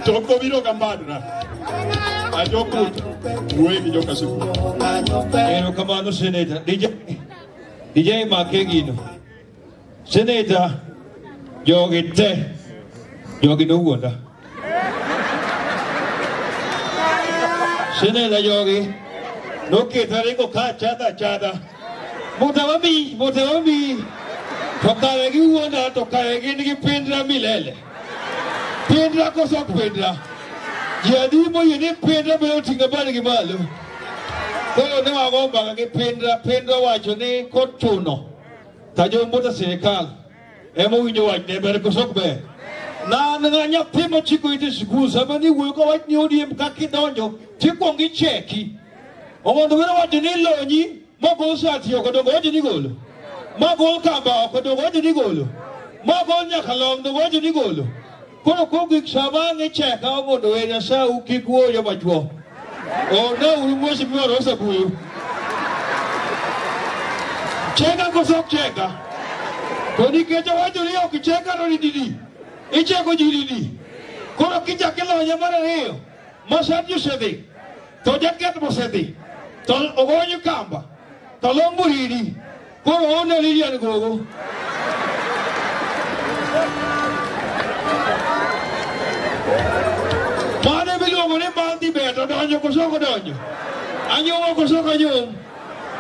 Chokgo biro ga mbadna. Ajokut, wuoyi gi joka siku. Ero kamano Senator. DJ, DJ make gino. Senator, jogi te, jogi nowuonda. Senator jogi, noketa ringo ka chadha chadha. Mute wami, mute wami. To kare giwuonda, to kare gin gi pindra milele. Pindra koso ok pindra? Ji adi moyie ni pindra miyo ting'a badgi malo? Koro ne wago mbaka gi pindra, pindra wacho ni kochuno ka jombuta sirikal ema owinjo wach ne ber koso ok ber? Na na nyathi mochiko ite sikul sama ni wuoyo ka wach ni odiem kaka idonjo tikwongo icheki. Omondo were wacho ni ilonyi Moko usati oko dongo ojo nigolo. Moko ukamba oko dongo ojo nigolo. Moko nyaka long dongo ojo nigolo. Koro kogik sama ang'e cheka omondo we nyasaye ukik wuoyo machwo. Ona uru mwesi mworo osebuyu. Cheka koso ok cheka. To nikech owacho ni ok cheka to ni didi. Icheko ji didi. Koro kichak ilonye mar ariyo. Mosaji osedhi, to Jaketh mosedhi, to Ogonyo Kamba, to Lombo Ridi, koro oonge Lilian Gogo. Mane miluongo ni Mbadhi Beta donjo koso ok odonjo? Anyuomo koso ok anyuom?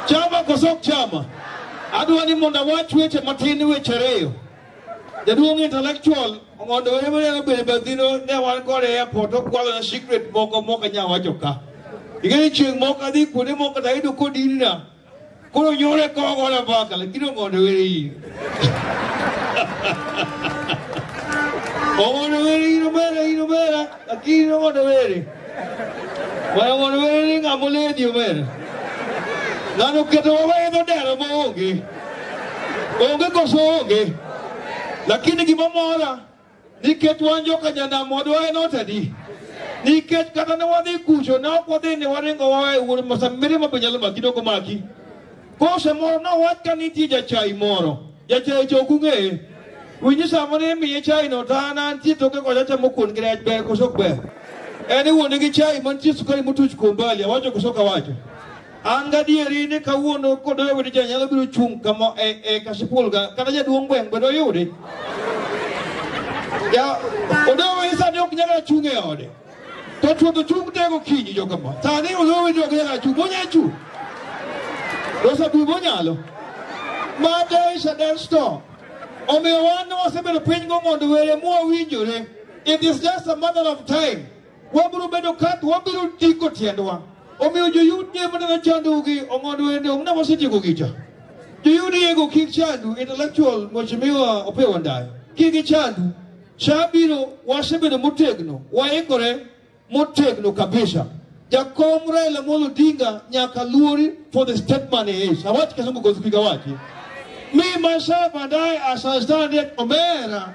Chama koso ok chama? Adwa ni mondo awach weche matin weche ariyo. Jaduong' intellectual mondo were mane obedo badhino ne wan kode e airport okwalo na secret moko mok anya wacho ka. Ing'eyo chieng' moko adhi kuonde moko to ayudo kodinna. Koro nyore koro gola mbaka lakini ong'ondo were in. Ong'ondo were in omera in omera. Lakini no mondo were. Mondo mondo were ni ng'ama oledi omera. Ng'ano keto wawedo dero ma onge. Onge koso onge. Lakini gima mora nikech wan joka janam wadwa en otadi. Nikech kata ne wadhi kucho ne ok wadhi ni waringo wawe wuod masa mirima be nyalo maki doko maki. Kose moro nowach ka nitie jachai moro, jachai to ok ung'eye. Winji samo ni imiye chai no to an antie toke kocha chamo kuon gi rech ber koso ok ber. En iwuonde gi chai mantie sukari motuch kuom bali, awacho koso ok awacho. An gadieri ni kawuono kodoyo wede cha nyalo biro chung' kama e, e Kasipul ka kata jaduong' gweng' be doyudi. Ja, odoyo wede sani ok nyaka chung' e ode. To chuodho chung' tego kinyi joka ma. Sani uluwe joka ya chu bonya chu. Rosa bu bonyalo. Ma day shall then stop. Omiyo wan wasebedo piny go mondo were mu owinjore. It is just a matter of time. Wabiro bedo ka wabiro tiko tiendwa. Omiyo joyud nye mana na chandu gi ongondo wende ongna wasetieko gicha. Joyud yego kik chandu intellectual mheshimiwa opewa ndai. Kik gichandu. Cha biro wasebedo motegno, waikore motegno kabisa. Jakom Raila Amolo Odinga nyaka luori for the step man he is. Awach kisungu kwa kupiga wachi. Me myself and I as I stand here Omera.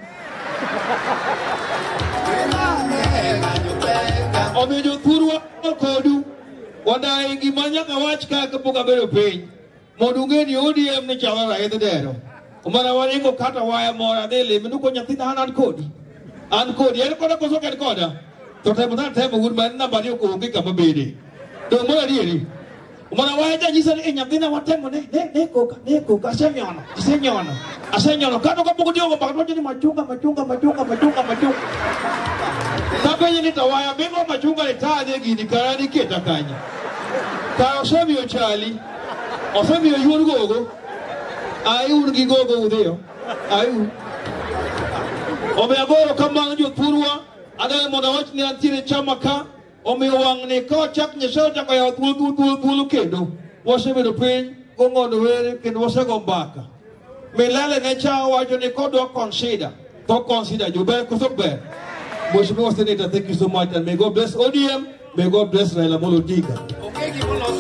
Omiyo jothurwa kodu wadayi gima nyaka wach ka kapok abedo piny. Mondo ung'e ni ODM ni chalo raidh dero. Omana waringo kata waya mora ne leme nuko nyathina an an kodi. An kodi en koda koso ken koda. To temo na temo wuod man namba ni onge kama bede. To mora dieri. Omana waya ja nyisa ni nyathina watemo ne ne ne koka ne koka asenyono asenyono asenyono kata ka pok diogo baka to ni machunga machunga machunga machunga machunga. Tapenye ni tawaya bingo machunga ni taje gini karani keta kanye. Karo semi ochali. Osemiyo yuon gogo. Ai un gi gogo udhiyo. Ai un. Omiyo agoro kamano jothurwa, adwaro mondo awach ni antiere chama ka, omiyo wang'ni ka wachak Nyasaye ochako yawo thuolo thuolo thuolo thuolo kendo, wasebedo piny gong'ono were kendo wasego mbaka. Milele ne cha wacho ni kodwa consider, to consider jober koso ok ber. Mheshimiwa Senator, thank you so much and may God bless ODM, may God bless Raila Amolo Odinga.